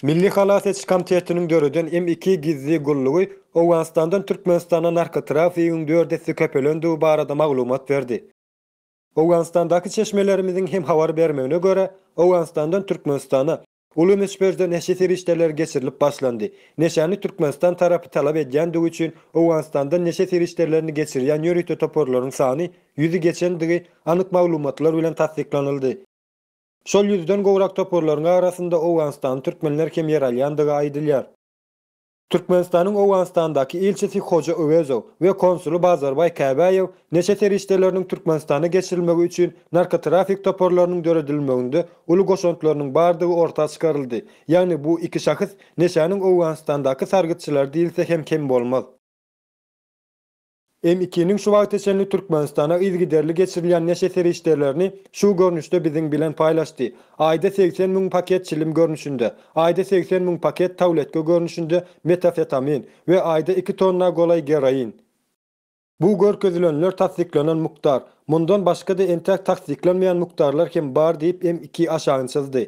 Milli halas ediş komitetiniň döreden M iki gizli gullugy Owganystandan Türkmenistana narkotrafigiň dört esse köpelendigi barada maglumat berdi. Owganystandaky çeşmelerimiziň hem habar bermegine görä, Owganystandan Türkmenistana Uly möçberde neşe serişdeleri geçirilip başlandy. Neşäni Türkmenistan tarapy talap edýändigi üçin Owganystandan neşe serişdelerini geçirýän ýörite toparlaryň sany ýüzi geçendigi anyk maglumatlar bilen tassyklanyldy. Şol ýüzden gowrak toparlaryň arasynda owganystanly türkmenler hem ýer alýandygy aýdylýar. Türkmenistanyň Owganystandaky ilçisi Hoja Öwezow we konsuly Bazarbaý Käbäýew neşe serişdeleriniň Türkmenistana geçirilmegi üçin narkotrafik toparlarynyň döredilmeginde uly goşantlarynyň bardygy orta çykaryldy, ýagny bu iki şahs neşäniň Owganystandaky sargytçylary diýilse hem kem bolmaz. MIK-niň şu wagta çenli Türkmenistana yzygiderli geçirilýän neşe serişdelerini şu görnüşde biziň bilen paýlaşdy, aýda segsen müň paket çilim görnüşinde, aýda segsen müň paket tawletka görnüşinde metafetamin we aýda iki tonna golaý geroin. Bu görkezilenler tassyklanan mukdar, mundan başga-da entäk tassyklanmaýan mukdarlar hem bar diýip MIK aşagyny çyzdy.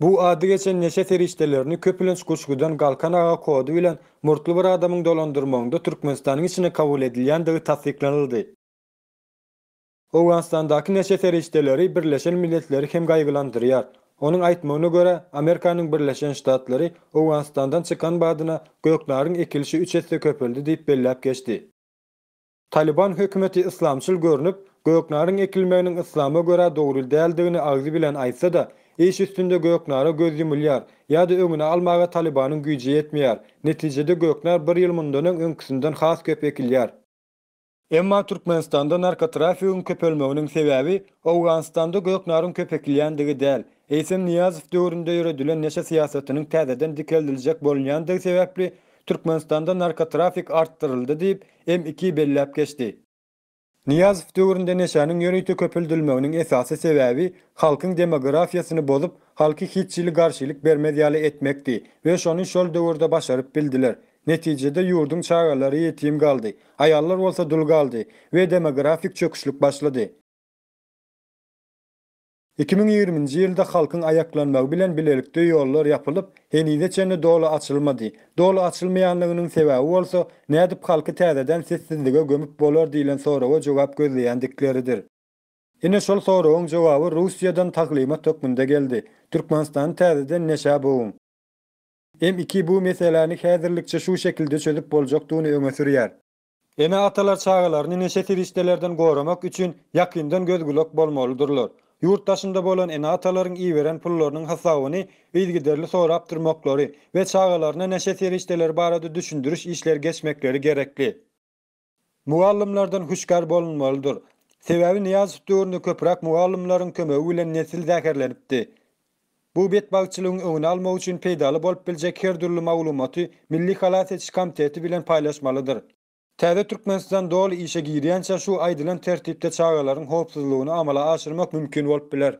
Bu ady geçen neşe serişdelerini köpülenç Guşgudan Galkan aga kody bilen murtly bir adamyň dolandyrmagynda Türkmenistanyň içine kabul edilýändigi tassyklanyldy. Owganystandaky neşe serişdeleri Birleşen Milletleri hem gaýgylandyrýar. Onuň aýtmagyna görä, Amerikanyň Birleşen Ştatlary Owganystandan çykan badyna göknaryň ekilişi üç esse köpeldi diýip belläp geçdi. Talyban hökümeti yslamçyl görnüp, göknaryň ekilmeginiň yslama görä dogry däldigini agzy bilen aýtsa-da, iş üstünde göknara göz ýumulýar ýa-da öňüni almaga Talybanyň güýji ýetmeýär, netijede göknar bir ýyl mundan öň öňküsinden has köp ekilýär. Emma Türkmenistanda narkotrafigiň köpelmeginiň sebäbi Owganystanda göknaryň köp ekilýändigi däl, eýsem Nyýazow döwründe ýöredilen neşe syýasatynyň täzeden dikeldiljek bolunýandygy sebäpli Türkmenistanda narkotrafik artdyryldy diýip, Em iki belläp geçdi. Nyýazow döwründe neşäniň ýörite köpeldilmeginiň esasy sebäbi halkyň demografiýasyny bozup, halky hiç hili garşylyk bermez ýaly etmekdi we şony şol döwürde başaryp bildiler. Netijede ýurduň çagalary ýetim galdy, aýallar bolsa dul galdy we demografik çöküşlik başlady. Iki müň ýigriminji ýylda halkyň aýaklanmagy bilen bilelikde ýollar ýapylyp, henize çenli doly açylmady. Doly açylmaýanlygynyň sebäbi bolsa, nädip halky täzeden sessizlige gömüp bolar diýlen soraga jogap gözleýändikleridir. Ine şol soragyň jogaby Russiýadan taglymat hökmünde geldi. Türkmenistany täzeden neşä boguň. M iki bu meseläni häzirlikçe şu şekilde çözüp boljakdygyny öňe sürýär. Ene-atalar çagalaryny neşe serişdelerden goramak üçin ýakyndan göz-gulak bolmalydyrlar. Ýurt daşynda bolan ene-atalaryň iberen pullarynyň hasabyny yzygiderli sorap durmaklary we çagalaryna neşe serişdeleri barada düşündiriş işleri geçmekleri gerekli. Mugallymlardan hüşgär bolunmalydyr. Sebäbi Nyýazow döwründe köpräk mugallymlaryň kömegi bilen nesil zäherlenipdi. Bu betbagtçylygyň öňüni almak üçin peýdaly bolup biljek her dürli maglumaty Milli halas ediş komiteti bilen paýlaşmalydyr. Täze Türkmenistan doly işe girýänçä şu aýdylan tertipde çagalaryň howpsuzlygyny amala aşyrmak mümkin bolup biler.